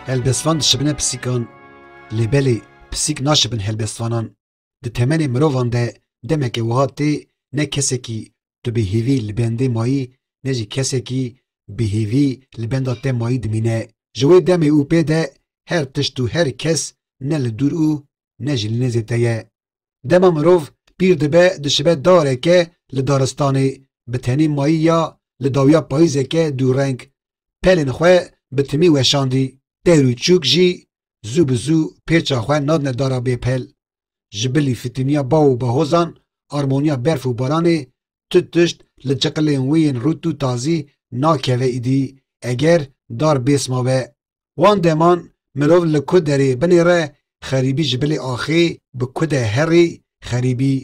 Helbestvan dişibine pisîkan, lê belê pisîk naşibin helbestvanan. Di temenê mirovan de demeke wiha tê ne kesekî Tu bi hêvî li bendê mayî ne jî kesekî bi hêvî li benda te mayî dimîne. Ji wê demê û pê de her tişt û her kes ne li dûr û ne jî li nêzê te ye. Dema mirov pîr dibe dişibe dareke li daristanê bi tenê mayî ya li dawiya payîzeke dûreng pelên xwe bi timî weşandî. Pêr û çûk jî zû bi zû pêça xwe nadine dara bêpel. Ji bilî fitîniya baw û behozan, armoniya berf û baranê, tu tişt li çiqilên wê yên rût û tazî nakeve îdî eger dar bêsma be. Wan deman mirov li ku derê binêre xerîbî ji bilê axê bi ku de herî xerîbî.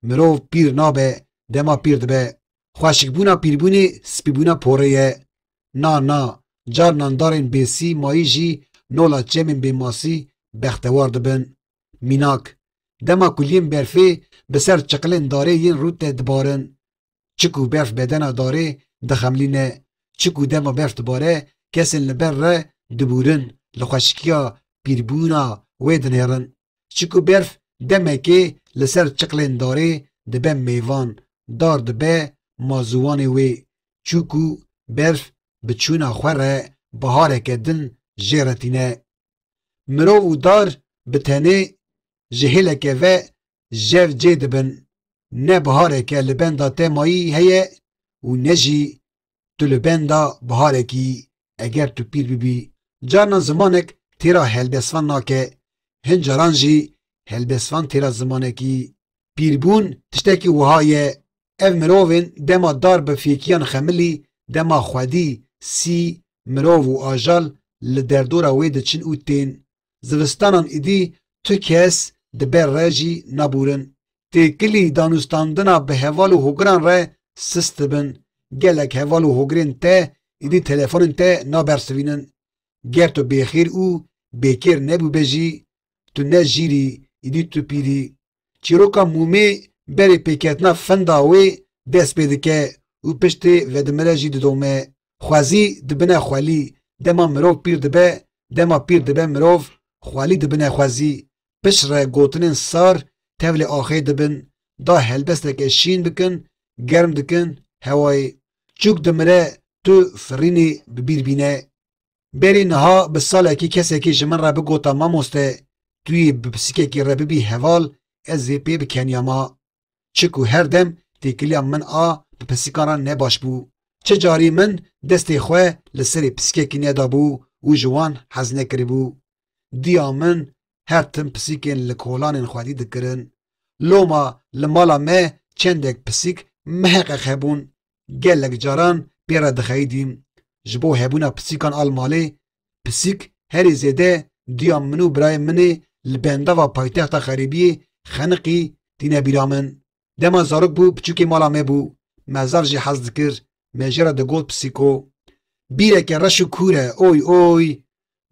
Mirov pîr nabe, dema pîr dibe. Xweşikbûna pîrbûnê spîbûna porê ye. Na na, carnan darên bêsî mayî jî nola çemên bêmasî bextewar dibin. Mînak, dema kuliyên berfê bi ser çiqilên darê yên rût de dibarin. Çi ku berf bedena darê dixemlîne, çi ku dema berf dibare kesên li ber re dibûrin, li xweşikiya pîrbûna wê dinêrin. Çi ku berf demekê li ser çiqilên darê dibe mêvan, dar dibe ma ziwanê wê, çûku berf bi çûna xwe re bihareke din jê re tîne. Mirov û dar bi tenê ji hêleke ve jev cê dibin, ne bihareke li benda te mayî heye û ne jî tu li benda biharekî eger tu pîr bibî. Carnan zimanek têra helbestvan nake, hin caran jî helbestvan têra zimanekî. Pîrbûn tiştekî wiha ye, ev mirovên dema dar bi fêkiyan xemilî, dema xwedî, sî, mirov û ajal li derdora wê diçin û tên. Zivistanan êdî tu kes di ber re jî nabûrin. Têkilî danûstandina bi heval û hogiran re sist dibin. Gelek heval û hogirên te êdî telefonên te nabersivînin. Ger tu bêxêr û bêkêr nebûbe jî, tu ne jîr î, êdî tu pîr î. çîroka Mûmê berê pêketina fenda wê dest pê dike û piştê vedimire jî didome. Xwezî dibine xwelî, dema mirov pîr dibe, dema pîr dibe mirov, xwelî dibine xwezî. Piştre gotinên sar tevlê axê dibin, da helbesteke şîn bikin, germ dikin hewayê. Çûk dimire tu firînê bi bîr bîne. Berî niha bi salekî kesekî ji min re bigota mamoste tu yê bi pisikekî re bibî heval ez vê pê bikeniya ma. Çi ku her dem têkiliya min a bi pisikan re ne baş bû. Çi carî min destê xwe li serê pisikekî nedabû û ji wan hez nekiribû. Diya min her tim pisikên li kolanên xwedî dikirin. Loma li mala me çendek pisik miheqeq hebûn Gelek caran pê re dixeyidîm ji bo hebûna pisîkan a li malê, pisîk herî zêde duya min û birayên min ê li bendava paytexta xerîbiyê Xeniqî tîne bîra min. Dema zarok bû piçûkê mala me bû, mezar jî hez dikir, me jê re digot pisîko. Bîreke reş û kûr e oy oy,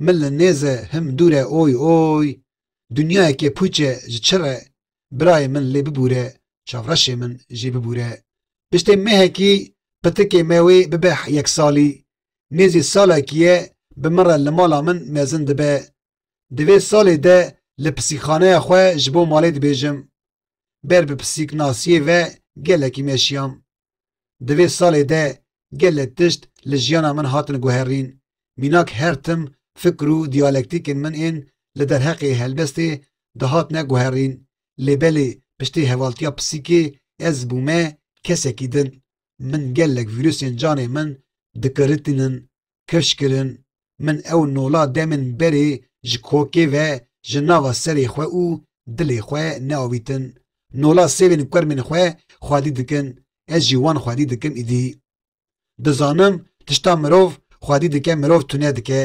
min li nêz e him dûr e oy oy, dinyayekê pûç e ji çi re, birayê min lê bibûre, çavreşê min jî bibûre. Piştê mehekî pitikê me wê bibe yek salî. Nêzî salekî ye bi min re li mala min mezin dibe. Di vê salê de li pisîkxaneya xwe ji bo malê dibêjim. Ber bi pisîknasiyê ve gelekî meşiyam. Di vê salê de gelek tişt li jiyana min hatin guherîn. Mînak her tim fikr û diyalektîkên min ên li derheqê helbestê de hatine guherîn. Lê belê piştî hevaltiya pisîkê ez bûme kesekî din. Min gelek vîrusên canê min dikiritînin. kirş kirin, min ew nola demên berê ji kokê ve ji nava serê xwe û dilê xwe neavîtin. Nola sêvên kurmên xwe xwedî dikin, ez jî wan xwedî dikim îdî. Dizanim tişta mirov xwedî dike mirov tune dike,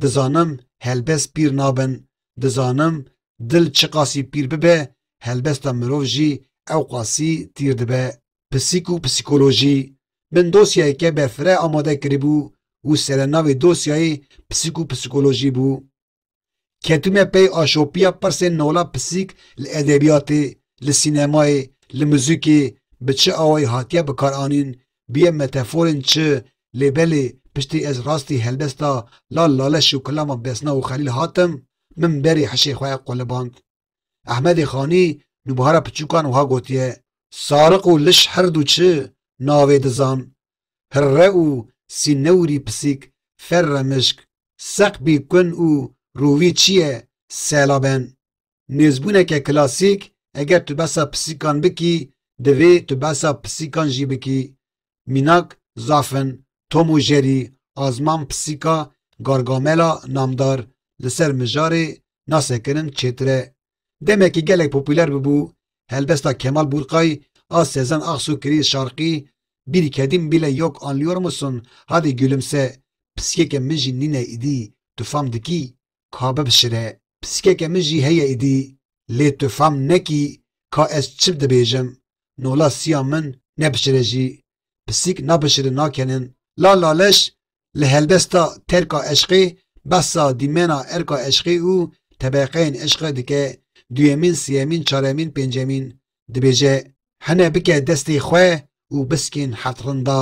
dizanim helbest pîr nabin, dizanim dil çiqasî pîr bibe helbesta mirov jî ewqasî tîr dibe. Pisîk û psîkolojî, Min dosyayeke berfireh amade kiribû û serenavê dosyayê Psîk û Psîkolojî bû. Ketime pey a şopiya pirsên nola psîk li edebiyatê, li sînemayê, li muzîkê bi çi awayî hatiye bikaranîn, bûye meteforên çi, lê belê piştî ez rastî helbesta Lal Laleş û Kilama Besna û Xelîl hatim, min berî hişê xwe quliband. Ehmedê Xanî li buhara piçûkan wiha gotiye, Sariq û liş her du çi navê dizan, hirre û sînewrî pisîk ferre mişk, seqbî kun û rûvî çi ye sela ben. Nêzbûneke klasîk eger tu behsa pisîkan bikî divê tu behsa pisîkan jî bikî. mînak, zafin, Tom û Jerî, Azman Pisîka Gargamela namdar li ser mijarê nasekirin çêtir e. Demekî gelek popûler bibû, helbesta Kemal Bûrkay a Sezen Aksu kirî şarkî Bir kedim bile yok anlıyor musun, hadi gülümse, pisîkeke min jî nîne îdî, tu fam dikî? ka bibişire. Pisikeke min jî heye îdî, lê tu fam nekî ka ez çi dibêjim, nola siya min nebişire jî, pisîk nabişirin nakenin. La Laleş li helbesta terka eşqê behsa dîmena erka eşqê û tebeqeyên eşqê dike, duyemîn, siyemîn, çaremîn, pêncemîn, dibêje, Hene bike destê xwe û bisikên heft rinda,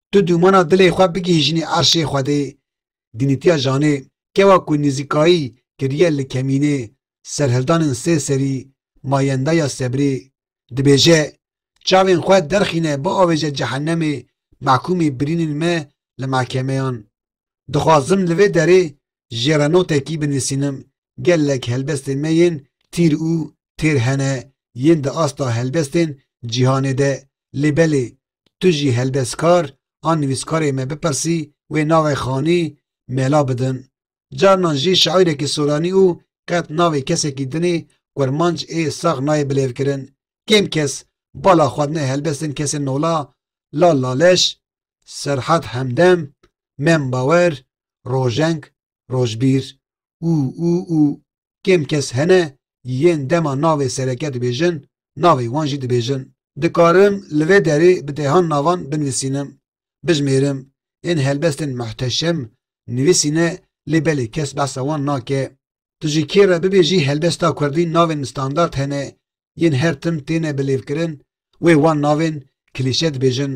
Tu dûmana dilê xwe bigihîjinî erşê Xwedê, dînîtiya janê, kewa ku nîzîkayî kiriye li kemînê, serhildanên sê serî, mayenda ya sebrê, dibêje, Çavên xwe derxîne biavêje cehennemê mehkûmî birînên me li mehkemeyan. Dixwazim li vê derê jê re notekî binîsînim, gelek helbestên me yên tîr û têr hene yên di asta helbestên cîhanê de, lê belê Tu jî heldestkar an nivîskarê me bipirsî wê navê xanî mela bidin. Carinan jî şaîrekî soranî û qet navê kesekî dinê kurmanc ê sax nayê bilêvkirin. Kêm kes bala xwedine helbestên kesên nola Lal Laleş, Serhat Hemdem, Mem Bawer, Rojeng, Rojbîr û û û kêm kes hene yên dema navê sereke dibêjin navê wan jî dibêjin. Dikarim li vê derê bi dehan navan binivîsînim, bijimêrim, yên helbestên Muhteşem nivîsîne lê belê kes behsa wan nake. Tu ji kê re bibêjî helbesta kurdî navên standard hene yên her tim têne bilêvkirin wê wan navên klîşe dibêjin.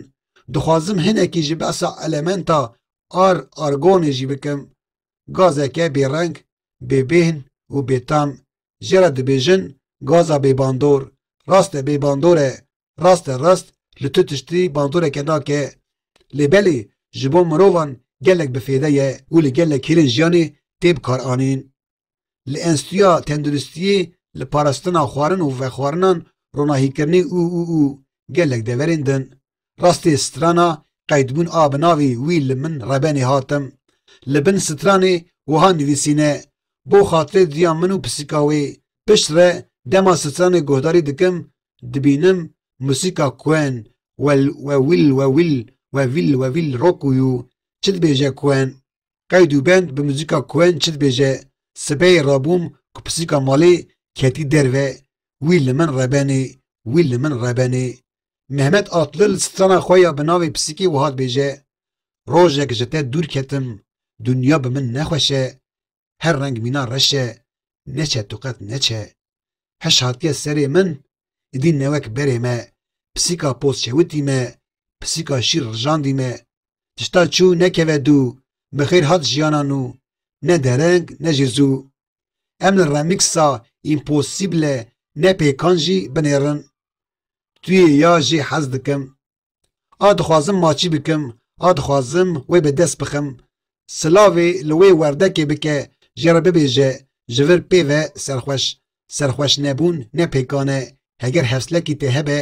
Dixwazim hinekî ji behsa elementa ar, argonê jî bikim. gazeke bêreng, bêbêhn û bêtam jê re dibêjin gaza bêbandor, rast e bêbandor e, rast e rast li tu tiştî bandoreke nake. Lê belê ji bo mirovan gelek bi fêde ye û li gelek hêlên jiyanê tê bikaranîn. Li Enstîtuya Tenduristiyê li parastina xwarin û vexwarinan ronahîkirinê û û û gelek deverên din Rastê strana qeydbûn a bi navê Wî li min rebenê hatim. Li bin stranê wiha nivîsîne, Bo xatirê duya min û pisîka wê. Pişt re dema stranê guhdarî dikim, dibînim musîka Queen, Well we will we will we will we will rock û yû, çi dibêje Queen. Qeyd û bend bi musîka Queen çi dibêje. Sibehê rabûm ku pisîka malê ketî derve, Wî li min rebenê, Wî li min rebenê. Mehmet Atlil strana xwe ya bi navê Pisikî wiha dibêje, Rojek ji te dûr ketim, dinya bi min ne xweş e, her reng mîna reş e, neçe tu qet neçe. Hiş hatiye serê min, îdî ne wek berê me, pisîka poz çewitî me, pisîka şîr rijandî me. Tişta çû nekeve dû, bi xêr hat jiyana nû, ne dereng ne jî zû. Em li remîksa Împosîble ne pêkan jî binêrin. Tu yê ya jî hez dikim. A dixwazim maçî bikim, a dixwazim wê bi dest bixim. Silavê li wê werdekê bike, jê re bibêje, ji vir pê ve serxweş. Serxweşnebûn ne pêkan e. Heger hevslekî tê hebe,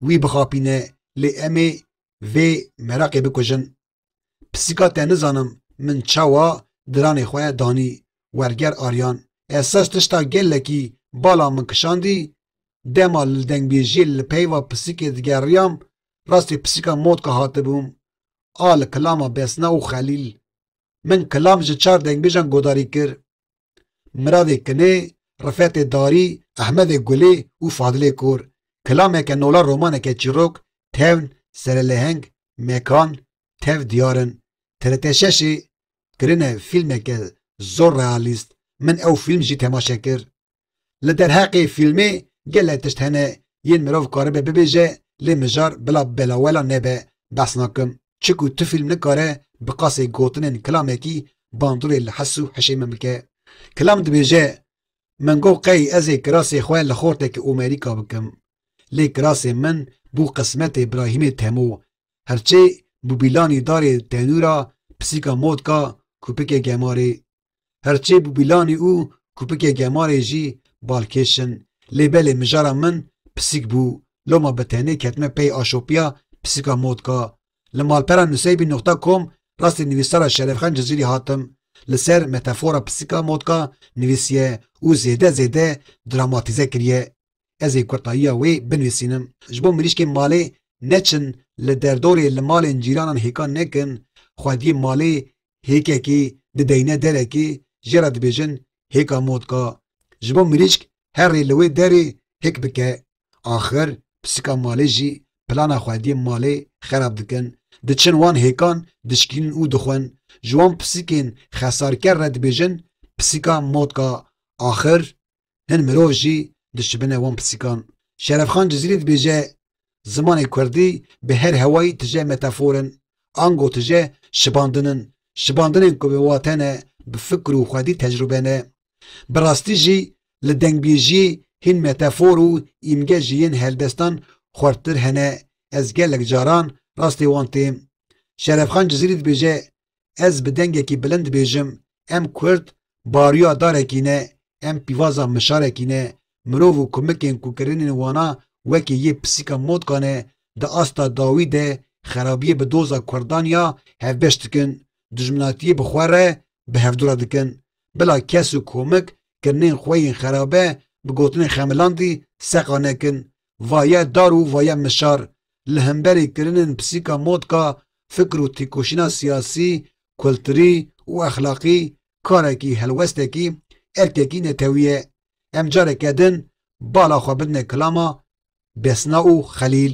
wî bixapîne. Lê em ê vê meraqê bikujin. Pisîka te nizanim min çawa diranê xwe danî werger Aryan esas tişta gelekî bala min kişandî dema li dengbêjiyê li peyva pisîkê digeriyam rastê pisîka motka hatibûm a li kilama Besna û Xelîl min kilam ji çar dengbêjan godarî kir Miradê Kinê, Rifetê Darî, Ehmedê Gulê û Fadilê Kor, Kilameke Nola romaneke çîrok, Tewn, Serelêheng, Mekan, Tev diyar in. TRT şeşê kirine fîlmeke zor realîst, min ew fîlm jî temaşe kir. Li derheqê fîlmê gelek tişt hene yên mirov karibe bibêje lê mijar bila belawela nebe behs nakim çiku tu fîlm nikare bi qasê gotinên kilamekî bandorê li hes û hişê min bike. Kilam dibêje Min got qey ez ê kirasê xwe li xortekî Omerîka bikim lê kirasê min bû qismetê Brahîmê Temo herçê bûbîlanî darê tenûra pisîka modka kûpikê gemarê Her çê bi bîlanê û kupikê gemarê jî balkêş in. Lê belê mijara min pisîk bû. Loma bi tenê ketime pey a şopiya pisîka motka. Li malpera nuseybî nuqta kom rastî nivîsara Şerefxan Cizîrî hatim. Li ser metefora pisîka motka nivîsiye û zêde zêde dramatîze kiriye. Ez ê kurtayiya wê binivîsînim ji bo mirîşkên malê neçin li derdorê li malên cîranan hêkan nekin, xwediyê malê hêkekî dideyne derekê jê re dibêjin hêka motka ji bo mirîşk herrê li wê derê hêk bike. Axir pisika malê jî plana xwediyê malê xerab dikin. Diçin wan hêkan dişkînin û dixwin. Ji wan pisikên xesarker re dibêjin pisika motka. Axir hin mirov jî dişibine wan pisîkan. Şerefxan Cizîrî dibêje, Zimanê kurdî bi her hewayî tije metafor in, ango tije şibandin in, şibandinên ku bi wate ne, bi fikr û xwedî tecrûbe ne. Bi rastî jî li dengbêjiyê hîn metafor û îmge ji yên helbestan xurttir hene, ez gelek caran rastê wan têm. Şerefxan Cizîrî dibêje, Ez bi dengekî bilind dibêjim, em Kurd bariya darekî ne, em pîvaza mişarekî ne, mirov û kumikên ku kirinên wana wekî yê pisîka motka ne, di asta dawî de xerabiyê bi doza Kurdan ya hevbeş dikin, dijminatiyê bi xwe re bi hevdora dikin. Bila kes û komik kirinên xwe yên xerabe bi gotinên xemilandî seqa nekin, vaye dar û vaye mişar li hemberî kirinên pisîka motka fikr û têkoşîna siyasî, kulturî û exlaqî karekî helwestekî, erkekî netewî ye. Em careke din bala xwe bidine kilama Desna û Xelîl.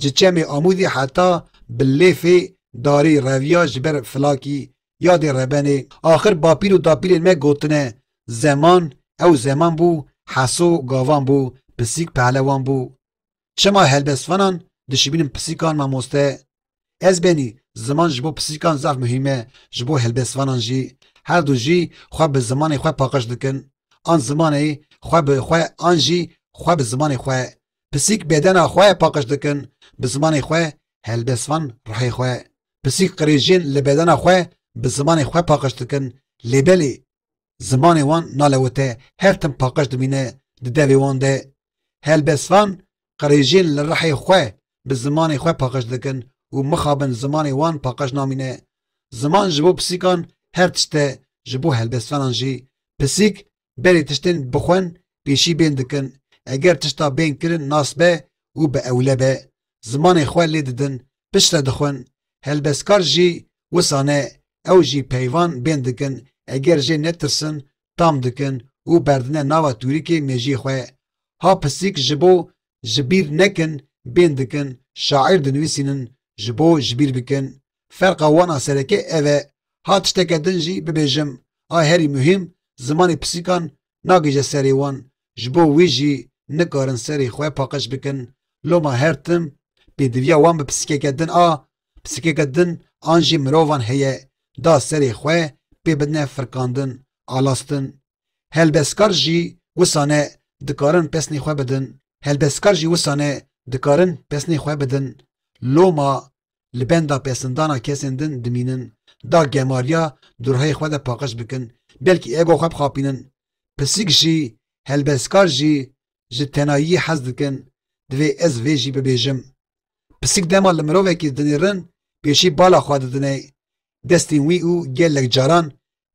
Ji çemê Amûzê heta Bilêfê darê reviya ji ber Filakî yadê rebenê. Axir bapîr û dapîrên me gotine, Zeman, ew zeman bû, Heso, gavan bû, Pisîk, pehlewan bû. Çima helbestvanan dişibînin pisîkan mamoste? Ez benî, ziman ji bo pisîkan zaf muhîm e, ji bo helbestvanan jî. Her du jî xwe bi zimanê xwe paqij dikin. An zimanê xwe bi xwe an jî xwe bi zimanê xwe. Pisîk bêdena xwe paqij dikin bi zimanê xwe helbest van rihê xwe. Pisîk qirêjên li bêdena xwe bi zimanê xwe paqij dikin lê belê zimanê wan nalewite her tim paqij dimîne di devê wan de. Helbest van qirêjên li rihê xwe bi zimanê xwe paqij dikin û mixabin zimanê wan paqij namîne. Ziman ji bo pisîkan her tişt e ji bo helbestvanan jî. Pisîk berê tiştên bixwen pêşî bên dikin, eger tişta bên kirin nas be û bi ewle be, zimanê xwe lê didin, piştre dixwin, helbestkar jî wisa ne, ew jî peyvan bên dikin, eger jê netirsin tam dikin û berdine nava tûrikê mêjî xwe. Ha pisîk ji bo ji bîr nekin bên dikin, şaîr dinivîsînin ji bo ji bîr bikin, Ferqa wan a sereke ev e. Ha tişteke din jî bibêjim a herî muhîm zimanê pisîkan nagihîje serê wan ji bo wî jî nikarin serê xwe paqij bikin. Loma her tim pêdiviya wan bi pisîkeke din a, pisîkeke din an jî mirovan heye da serê xwe pê bidine firkandin, alastin. Helbestkar jî wisa ne dikarin pesnê xwe bidin. Helbestkar jî wisa ne dikarin pesnê xwe bidin. Loma li benda pesindana kesên din dimînin, da gemariya di ruhê xwe de paqij bikin, belkî ego xwe bixapînin. Pisîk jî, helbestkar jî ji tenayiyê hez dikin, divê ez vê jî bibêjim. Pisîk dema li mirovekî dinêrin pêşî bala xwe didine destên wî û gelek caran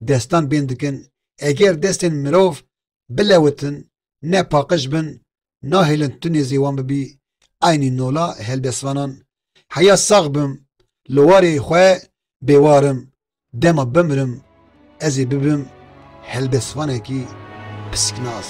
destan bên dikin. Eger destên mirov bilewitin, ne paqij bin, nahêlin tu nêzê wan bibî, eynî nola helbestvanan, heya sax bim, li warê xwe bêwar im, dema bimirim ez ê bibim helbestvanekî pisknas.